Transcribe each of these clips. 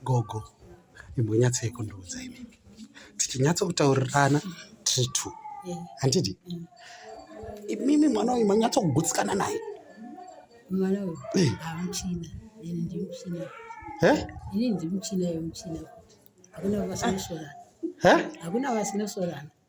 Gogo imbonyatsai kundiudza imi tichinyatsokutaurirana tiri two handiti imimi mwana uyu manyatsokugutsikana naye mwana uyu Eh. hamuchina ini ndimuchina he ini ndimuchina yemuchina hakuna vasinosorana he hakuna vasinosorana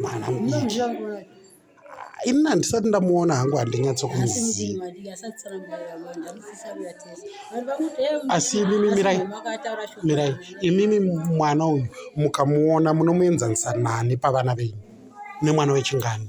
mwana mudiki ini handisati ndamuona hangu handinyatsokuziva asi imimi mirai mirai imimi mwana uyu mukamuona munomuenzanisa nani pavana venyu nemwana wechingani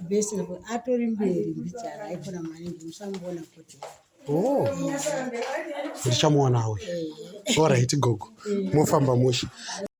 best level atori mberi mbichana aikona maningi musamuona kuti oh. ndichamuona uyu eh. orit gogo eh. mofamba mushe